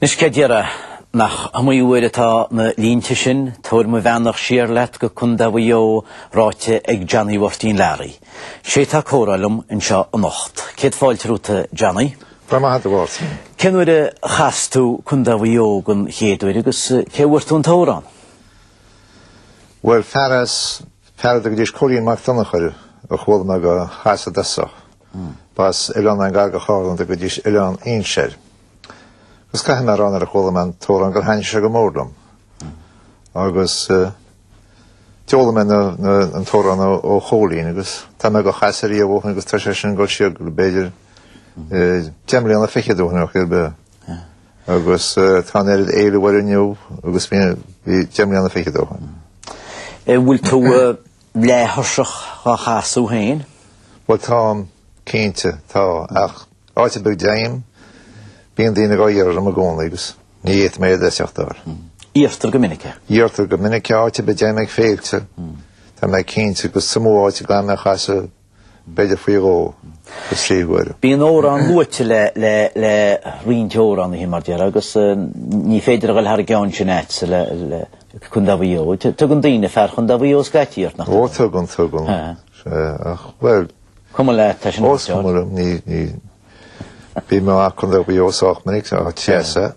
Anois céard déarfá. Nach iomaí uair atá na línte sin, Tabhair mo bheannacht siar leat go Condae Mhaigh Eo, ráite ag Johnny Mhairtín Learaí. Sé atá ag comhrá liom anseo anocht. Céad fáilte romhat a Johnny. Go raibh maith agat a Mháirtín. Cén uair a chas tú Condae Mhaigh Eo den chéad uair agus cé bhfuair tú an t-amhrán? Bhuel, fear as fear a dtugaidís Cóilín Mac Donnchadha air a chuala mé dá chasadh i dtosach. B'as oileán i ngar do Charna a dtugaidís Oileán Fhínse air. Agus caithfidh mé a rá nuair a chuala mé an t-amhrán gur thaitnigh sé go mór liom. Agus d'fhoghlaim mé an t-amhrán ó Chóilín agus tá mé dá chasadh ariamh ó shin agus tá sé sin ag dul siar go b'fhéidir deich mbliana, fichead ó shin ar chor ar bith. Agus tá an oiread éileamh air inniu agus a bhí deich mbliana fichead ó shin. Bhfuil tú leath-thuirseach dá chasadh féin. Bhuel, táim cinnte, tá, ach áit ar bith a dtéim, bíonn daoine dá iarraidh orm i gcónaí agus ní fhéadfaidh mé iad a eiteachtáil. Iarrtar go minic é. Iarrtar go minic é, áit ar bith a dtéim ag féilte, tá mé cinnte, agus is iomaí áit go bhfuil orm é a chasadh. b'fhéidir faoi dhó nó trí huaire. Bíonn amhráin luaite le roinnt amhránaithe, mar deir, agus ní féidir a dhul thar an gceann sin a'd le Condae Mhaigh Eo. Tugann daoine fear Chondae Mhaigh Eo scaití ort, nach dtugann? Ó tugann, tugann. Bhuel, cuma leat, tá sin ait. Ó, is cuma liom, ní. Bhí mé i gCondae Mhaigh Eo sách minic an tráth sin.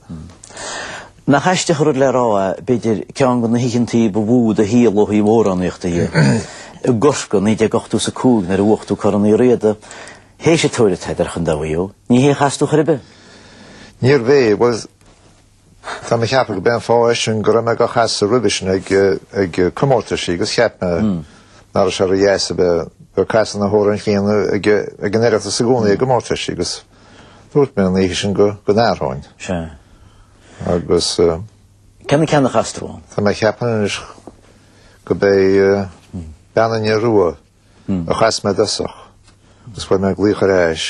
Nach aisteach an rud le rá, b'fhéidir, ceann de na hoícheantaí ba mhó i do shaol ó thaobh amhránaíochta de, i gCorcaigh, 1985, nuair a bhuaigh tú Corn Uí Riada, théis an tóir atá b'fhéidir ar Chondae Mhaigh Eo. Ní hé a chas tú chor ar bith. Níorbh é, bhuel, Tá mé ag ceapadh go b'é an fáth é sin go raibh mé dá chasadh roimhe sin ag comórtaisí agus cheap mé nach raibh sé ródheas a bheith ag casadh na hamhráin chéanna ag an Oireachtas i gcónaí i gcomórtaisí agus dúirt mé an oíche sin go n-athróinn. Sea. Agus. Cé na ceanna a chas tú ann? Tá mé ag ceapadh anois go b'é Bean an Fhir Rua a chas mé i dtosach agus bheidh mé ag glaoch ar ais.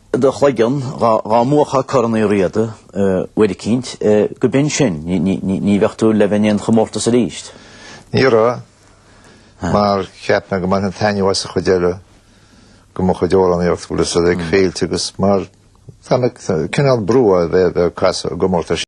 do chloigeann dhá mbuafá Corn Uí Riada uair eicínt, go mb'in sin, ní bheadh tú le bheith in aon chomórtas aríst. Ní raibh, mar cheap mé go mbainfinn taitneamh as an chuid eile de mo chuid amhránaíochta, bhfuil fhios a'd ag féilte agus mar, tá cineál brú a bheith ag casadh i gcomórtais.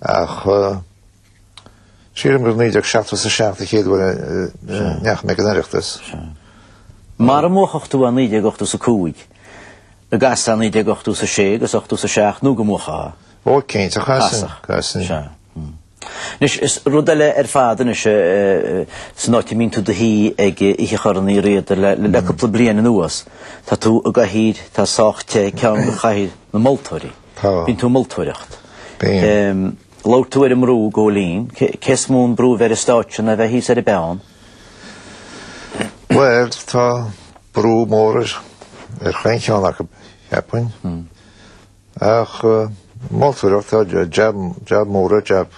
Ach sílim gur 1977 an chéad uair a ndeachaigh mé ag an Oireachtas. Mara mbuafadh tú i 1980 is 5, an gcasfá i 1980 is 6 agus 80 is 7 nó go mbuafá. Ó cinnte, a chasfainn, chasfainn. Anois, is rud eile ar fad anois san áit a mbíonn tú i do shuí ag Oíche Chorn Uí Riada le cúpla bliain anuas, tá tú i gcathaoir atá sách te, ceann de chathaoir na moltóirí. Tá. Bíonn tú ag moltóireacht. Bím. Labhair tú ar an mbrú i gCóilín. Cé is mó an brú bheith ar an stáitse ná bheith thíos ar an bpeann? Bhuel, tá brú mór ar chaon cheann acu, cheapfainn. Hmm. Ach eh, moltóireacht tá jab, jab mór, jab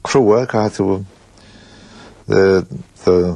crua, caithfidh tú eh,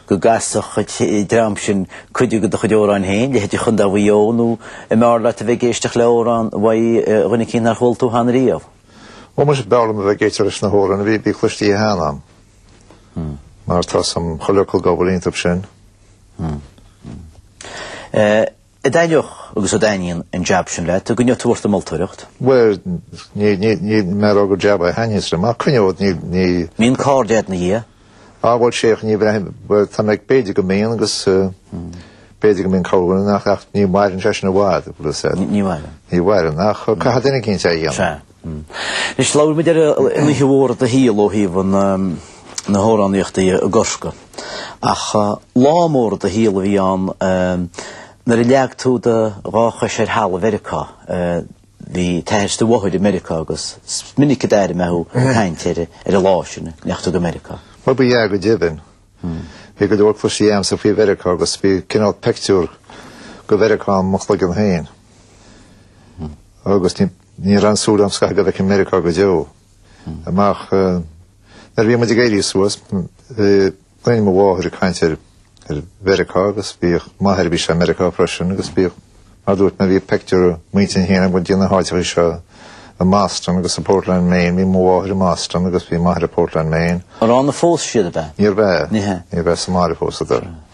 go gcasfadh an dream sin cuid de do chuid amhráin féin, leithéidí 'Chondae Mhaigh Eo' nó an mb'fhearr leat a bheith ag éisteacht le amhrán uaidh dhuine éicínt nár chuala tú cheana riamh? Ó muise, b'fhearr liom a bheith ag éisteacht leis na hamhráin a bhí cloistithe cheana agam, mar tá's a'm chuile fhocal dhá bhfuil iontu sin. An dtaitneodh agus an dtaitníonn an jab sin leat, an gcoinneoidh tú ort ag moltóireacht. Bhuel, níl mé rá gur jab é a thaitníos liom, ach coinneod, níl. An mbíonn cairde a'd 'na dhiaidh? Á, bhuel, sea, ní bheith, bhuel, tá mé, b'fhéidir go mbíonn agus b'fhéidir go mbíonn corrdhuine nach, ach ní mhaireann sé sin i bhfad, bhfuil 'fhios a'd. Ní mhaireann. Ní mhaireann, ach caithfidh duine éicint é a dhéanamh. Sea. Anois, labhair muid ar oíche mhór do shaol ó thaobh na hamhránaíochta dhe i gCorcaigh. Ach lá mór i do shaol a bhí ann nuair a leag tú do dhá chois ar thalamh Mheiriceá. Bhí t'athair 's do mháthair i Meiriceá agus is minic a d'airigh mé thú ag caint ar an lá sin a ndeachaigh tú go Meiriceá. Bhuel, ba ea go deimhin. Bhí go leor cloiste agamsa faoi Mheiriceá agus bhí cineál pictiúr de Mheiriceá i mo chloigeann féin. Agus ní Ní raibh aon súil a'm scaitheamh go bhfeicfinn Meiriceá go deo amach. Nuair a bhí muid ag éirí suas, d'airínn mo mháthair ag caint ar Mheiriceá agus bhíodh m'athair, bhí sé i Meiriceá freisin agus bhíodh, mar a dúirt mé, bhí pictiúr i m'intinn féin go dtí na háiteacha seo i mBoston agus i bPortland, Maine. Bhí mo mháthair i mBoston agus bhí m'athair i bPortland, Maine. Ar ann a phós siad, ab ea? Níorbh ea. Níorbh ea. Níorbh ea sa mbaile a phósadar.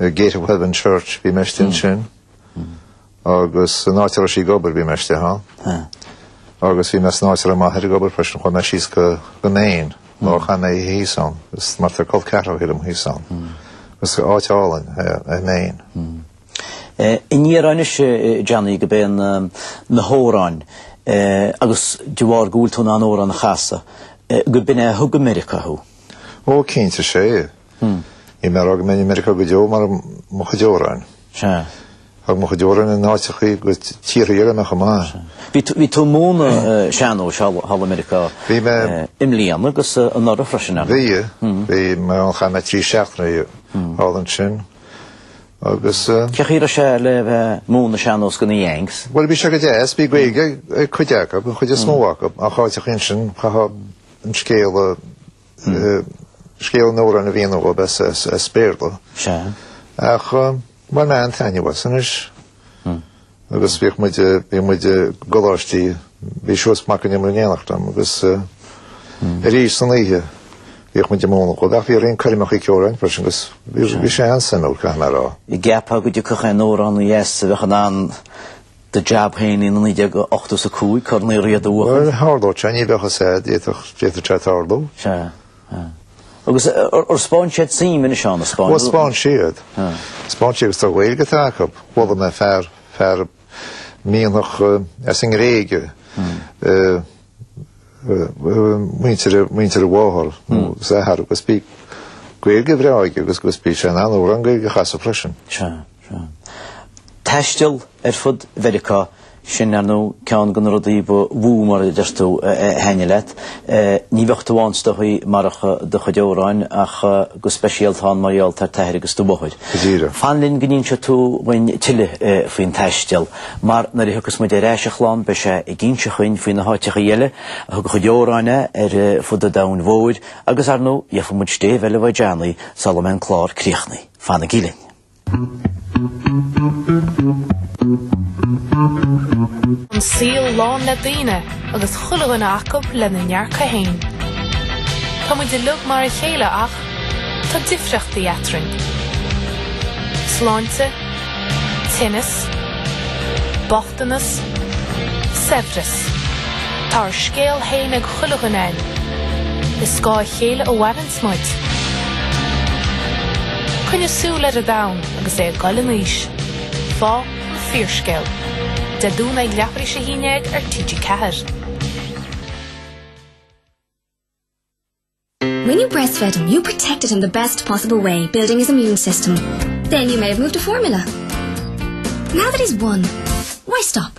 Ar Gate of Heaven Church bhí mé istigh ansin agus san áit a raibh sí ag obair bhí mé istigh ann. Agus bhí mé san áit a raibh m'athair ag obair freisin chuaigh mé síos go go Maine nó chaith mé oíche thíos ann. Is mar tá col ceathrachaí liom thíos ann. Is áit álainn é Maine. An ndéarfá anois Johnny gurb iad na hóráin agus de bharr go bhfuil tú in ann órán a chasadh, go b'in é a thug go Meiriceá thú? Ó cinnte, is é. Níl mé ag rá go mbeinn i Meiriceá go deo marach mo chuid amhráin. Thug mo chuid amhráin in áiteacha go tíortha eile mé chomh maith. Bhí tú ag múineadh sean-nóis thall i Meiriceá i mbliana agus anuraidh freisin, ar ndóigh? Bhí. Bhí mé ann. Chaith mé trí seachtaine thall ansin agus. Cén chaoi a raibh sé le bheith ag múineadh sean-nóis do Yanks? Bhuel, bhí sé go deas. Bhí Gaeilge ag cuid acu, ag an chuid is mó acu, ach áiteachaí ansin chaithfeá an scéal a. Scéal an amhráin a mhíniú dhóibh as Béarla. Sea. Ach bhain mé an-taitneamh as anois. Agus bhíodh muid, bhí muid i gcoláistí, bhí Seosamh Mac an Iomaire in éineacht liom agus arís san oíche bhíodh muid ag múineadh dhóibh. Ach bhí roinnt coirmeachaí ceoil ann freisin agus bhí sé an-suimiúil, caithfidh mé a rá. An gceapfá go dtiocfadh aon amhránaí as a bheadh in ann do jab féin in 1985, Corn Uí Riada a bhuachan? Bhuel tharlódh sé, ní bheadh a fhios agat, d'fhéadfadh sé tarlú. Sea. Agus ar spáin siad suim anois ann, na Spáinnigh? Ó, spáin siad. Spáin siad agus tá Gaeilge ag cuid acu. Bhuail mé le fear, fear mianach as an nGréige, muintir a, muintir a mháthar, is a athar, agus bhí Gaeilge bhreá aige agus bhí sé in ann amhrán Gaeilge a chasadh freisin. Sea. taisteal ar fud Mheiriceá, sin, ar ndóigh, ceann de na rudaí ba mhó, mar a deir tú, a thaitnigh leat. Ní bheadh tú ann, is dóigh, marach do chuid amhráin, ach go speisialta ann mar gheall ar t'athair agus do mháthair. Go díreach. Fan linn go n-inseoidh tú dhuinn tuilleadh faoin taisteal, mar nuair a thiocfas muid ar ais a chlann, beidh sé ag inse dhuinn faoi na háiteachaí eile a thug a chuid amhráin é ar fud an domhain mhóir, agus, ar ndóigh, gheobhaidh muid stéibh eile uaidh Johnny sula mbeidh an clár críochnaithe. Fanaigí linn. An saol lán le daoine agus chuile dhuine acu lena ndearcadh fhéin. Tá muid uilig mar a chéile ach tá difríochtaí eatrainn. Sláinte, tinneas, bochtanas, saibhreas. Tá ár scéal fhéin ag chuile dhuine againn. Ar scáth a chéile a mhaireann. Smid. Coinnigh súil ar an domhan agus é ag goil in aois. Fág an fíorscéal. Dé Domhnaigh ag leathuair is a haon dhéag ar TG4. When you breastfed him, you protected him the best possible way, building his immune system. Then you may have moved to formula. Now that he's won, why stop?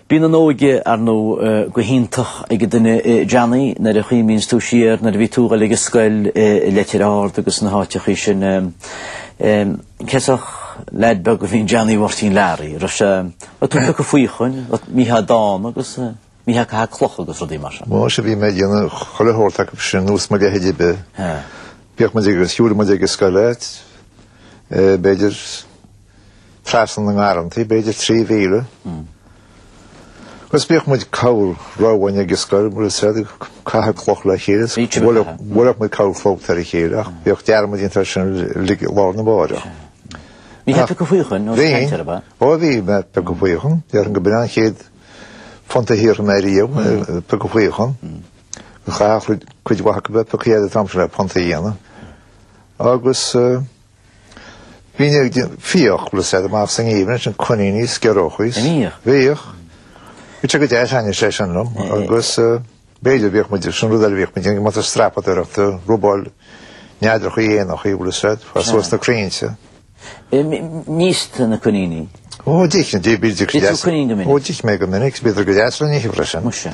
Bíonn an óige, ar ndóigh, go hiontach ag an duine, Johnny, nuair a chuimhníonns tú siar nuair a bhí tú ag dul ag an scoil i Leitir Ard agus na háiteachaí sin. Cén sórt leaid beag a bhí in Johnny Mháirtín Learaí, raibh sé, raibh tú ag piocadh faochain, an mbíteá dána agus an mbíteá ag caitheamh cloch agus rudaí mar sin. Muise bhí mé ag déanamh chuile shórt acu sin ar nós mo leithéid ar bith. Bhíodh muid ag, shiúladh muid ag an scoil leat, b'fhéidir, Trasna na ngarrantaí, b'fhéidir trí mhíle. Agus bhíodh muid, corr-row againn ag an scoil mar a déarfá, ag caitheamh cloch lena chéile, bhuailfeadh muid corrchlabhta ar a chéile ach bhíodh dearmad déanta air sin lá arna mháireach. An mbíteá ag piocadh faochain, ós ag caint air mé? Ó, bhí mé ag piocadh faochain. Déarfainn go b'in an chéad phunt a shaothraigh mé riamh, ag piocadh faochain. Chaithfeadh cuid mhaith acu bheith pioctha agat an t-am sin le punt a dhéanamh. Agus. Bhínn ag fiach, bhfuil a fhios agat, amach sa ngeimhreadh ansin, coiníní is giorriachaí. An mbíodh? Bhíodh. Bhí sé go deas, thaitnigh sé sin liom, agus b'fhéidir bhíodh muid ag, sin rud eile a bhíodh muid ag déanamh, go mbeadh tú ag strapadóireacht ag robáil neadrachaí, éanachaí, bhfuil a fhios agat, fá suas na crainnte. An íosfá na coiníní? Ó, d'ith, d'ith, bhídís go deas. D'ith tú coinín go minic? Ó, d'ith mé go minic, bhíodar go deas le n-ithe freisin. Muise.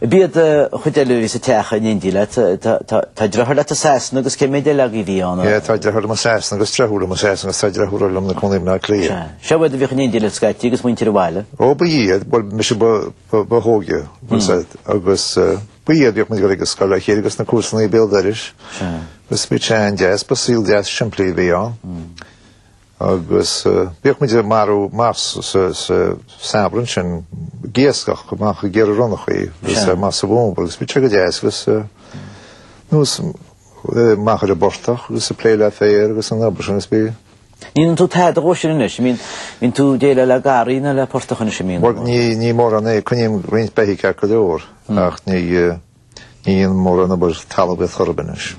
B'iad an chuid eile a bhí sa teach in éindí leat. Tá driotháir leat i Sasana agus cé méid eile agaibh a bhí ann? Tá driotháir liom i Sasana agus deirfiúr liom i Sasana agus tá deirfiúr liom ina cónaí i mBaile Átha Cliath. Seo iad a bhíodh in éindí leat scaití agus muintir an bhaile? Ó ba iad, bhuel mise ba hóige agus ba iad a bhíodh muid ag dul ag an scoil le chéile agus na comharsana béal dorais. Agus bhí sé an-deas, ba saol deas simplí a bhí ann. Agus bhíodh muid ag marú amach sa samhradh ansin, ag iascach, ag dul amach ag iarraidh ronnachaí agus amach sa bhfómhar agus bhíodh sé go deas agus ar ndóigh amach ar an bportach agus ag plé le féar agus an obair sin agus bí. An ndéanann tú tada dhó sin anois, an mbíonn tú ag déileáil le garraí ná le portach anois, an mbíonn? Bhuel, ní mórán é, coinním roinnt beithígh ceart go leor ach ní. Ní dhéanaim mórán obair talmhaíocht ar bith anois.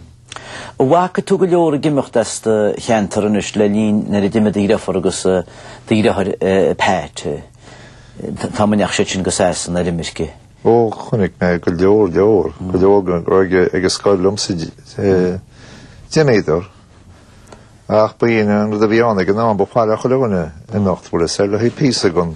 An bhfaca tú go leor ag imeacht as do cheantar anois le linn nuair a d'imigh do dheirfiúr agus do dhriotháir Pat. An t-am a ndeachaigh siad sin go Sasana ar imirce. Ó, chonaic mé go leor, leor, go leor dhá raibh ag an scoil liomsa d'imíodar. Ach b'in é an rud a bhí ann ag an am b'áil le chuile dhuine imeacht bhfuil a fhios agat le haghaidh píosa den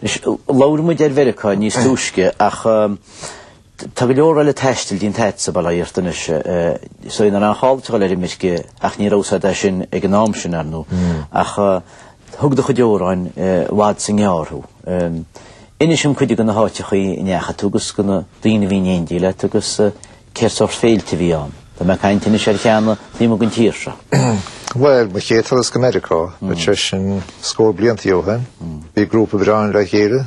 Anois, labhair muid ar Mheiriceá níos túisce, ach tá go leor eile taistil déanta agatsa, bail ó Dhia ort anois. Sea, ní raibh aon chall duit dul ar imirce, ach ní raibh a fhios agat é sin ag an am sin, ar ndóigh, ach thug do chuid amhráin i bhfad is i ngearr thú. Inis dom cuid de na háiteachaí a ndeachaigh tú agus de na daoine a bhí in éindí leat agus Cén sórt féilte a bhí ann? Tá mé ag caint anois ar cheanna taobh amuigh den tír seo. Bhuel, mo chéad turas go Meiriceá, bhuel sé sin scór blianta ó shin, bhí grúpa breá ann le chéile,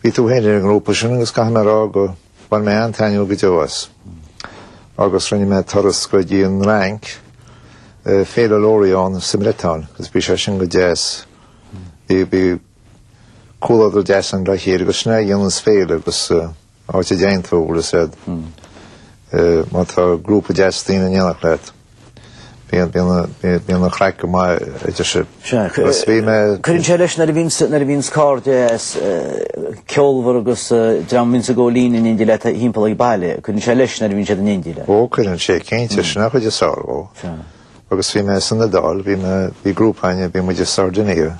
bhí tú féin ar an ngrúpa sin agus caithfidh mé a rá go bhain mé an-taitneamh go deo as. Agus rinne mé turas go dtí an Fhrainc, Féile Lorient sa mBriotáin, agus bhí sé sin go deas. Bhí comhluadar deas ann le chéile agus sin é a dhéanann an féile agus áit a dtéann tú, bhfuil a fhios agat, má tá grúpa deas daoine in éineacht leat, bíonn an chraic go maith, a deir sé. Agus bhí mé. Cuireann sé leis nuair a bhíonn scata deas, ceolmhar agus dream a bhíonns ag gabháil fhoinn in éindí leat thimpeall ag baile, cuireann sé leis nuair a bhíonn siad in éindí leat. Ó, cuireann sé, cinnte, sin an chuid is fearr dhó. Agus bhí mé san Iodáil, bhí grúpa againne, bhí muid i Sardinia,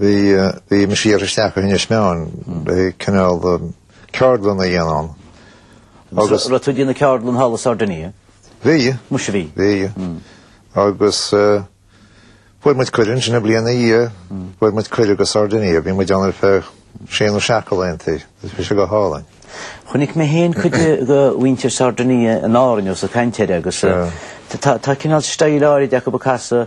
Bhí mise iarrtha isteach go hInis Meáin cineál ceardlann a dhéanamh ann agus. Raibh tú ag déanamh ceardlann thall i Sardinia? Bhí. Muise bhí. Bhí. Agus fuair muid cuireadh ansin an bhliain ina dhiaidh, fuair muid cuireadh go Sardinia. Bhí muid ann ar feadh sé nó seacht de laethantaí. Bhí sé go hálainn. Chonaic mé féin cuid de mhuintir Sardinia in Árainn, ós ag caint air agus tá cineál staíl áirid acu ag casadh.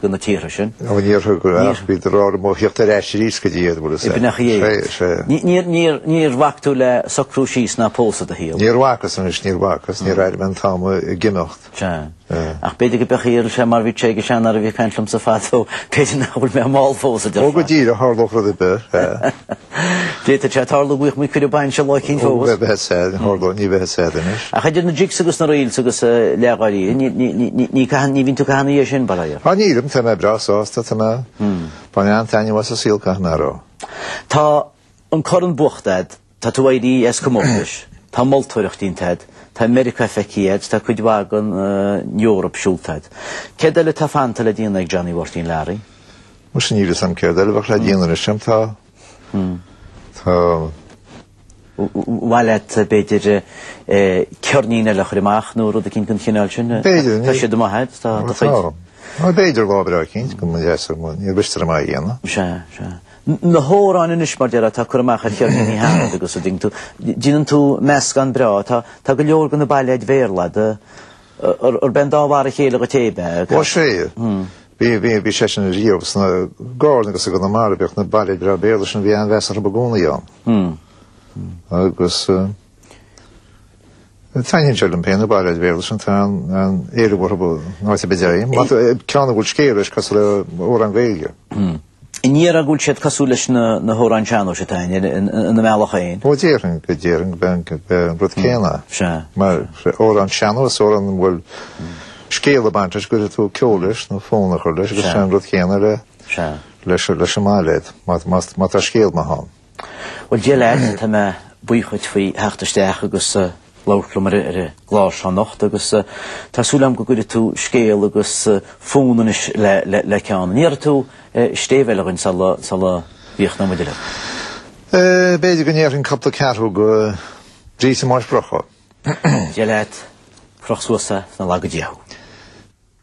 go na tíortha sin. Ó, níor thug ach bhí de rogha a'm a thíocht ar ais arís go dtí iad, bhfuil 'sé. B'fhneacha dhéag. 'Sé, 'sé. Ní, níor, níor, níor bhac tú le socrú síos ná pósadh i do shaol. Níor bhacas, anois, níor bhacas, níor airigh mé an t-am ag imeacht. 'Sé. Ach b'fhéidir go mbeadh iarraidh, 'sé, mar bhí ráite ag seanfhear a bhí ag caint liomsa fadó, b'fhéidir nach bhfuil mé mall fós, a deir fear. Ó, go díreach, tharlódh rud ar bith, 'sé. D'fhéadfadh sé tarlú go bhfaighidh muid cuireadh bainse lá eicínt fós. Ó, bheadh sé, tharlódh, ní bheadh sé anois. Ach idir na jigs agus na reels agus leithdháileadh, ní, ní caitheann, ní bhíonn tú ag caitheamh ina dhiaidh sin, bail ort. Á, nílim, tá mé breá sásta, tá mé, bhain mé an-taitneamh as an saol, caithfidh mé a rá. Tá an corn buachta a'd, tá tú éirithe as comórtais, tá moltóireacht déanta a'd, tá Meiriceá feicthe a'd, tá cuid mhaith den Eoraip siúlta a'd. Céard eile atá fanta le déanamh ag Johnny Mháirtín Learaí? Bhuel, sin níl 'fhios a'm céard eile a bheadh le déanamh anois a'm. Tá. Tá. Mhaith leat, b'fhéidir, ceirnín eile a chur amach nó rud eicínt den chineál sin? B'fhéidir, ní. Tá siad i mo dhiaidh, tá do chuid. Tá. Bhuel, b'fhéidir lá breá eicínt go mba dheas liom, níor mhiste liom é a dhéanamh. Sea, sea. Na hamhráin anois, mar déarfá, atá curtha amach ar cheirníní cheana agus a ding tú. Déanann tú meascán breá, tá go leor de na bailéid Bhéarla, de. Arb é an dá mhar a chéile dhuit é, ab ea? Ó, sea. Bhí sé sin riamh anseo i gCarna agus i gConamara, bhíodh na bailéid breá Béarla sin, bhí an-mheas orthu i gcónaí ann. Agus taitníonn sé liom féin na bailéid Bhéarla sin, tá an-éileamh orthu, áit ar bith a dtéim. Ceann a bhfuil scéal leis, cosúil le amhrán Gaeilge. An ndéarfá go bhfuil siad cosúil leis na hamhráin sean-nóis atá ann, ina mbealach féin. Ó déarfainn go déarfainn gurb é an rud céanna. Sea. Mar amhrán sean-nóis, amhrán a bhfuil scéal ag baint leis, go bhfuil tú ceol leis nó fonn a chur leis, agus sin an rud céanna leis an mbailéad, má tá scéal maith ann. Bhuel, Dia leat, tá mé buíoch dhuit faoi theacht isteach agus labhairt liom ar an gclár seo anocht agus tá súil agam go gcuirfidh tú scéal agus fonn anois le ceann. An ndéarfaidh tú stéibh eile dhuinn sula gcríochnóidh muid uilig? B'fhéidir go ndéarfainn cupla ceathrú go dtí sa mbáis brocach. Dia leat, croch suas é, is nár laga Dia thú.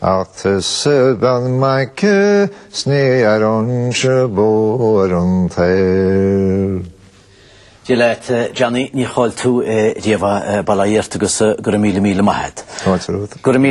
Ach is beag maic sní ar anse bó ar an tair. Dia leat Johnny, níor chaill tú riamh é, bail ó Dhia ort agus go raibh míle míle maith agat. Go raibh maith agat.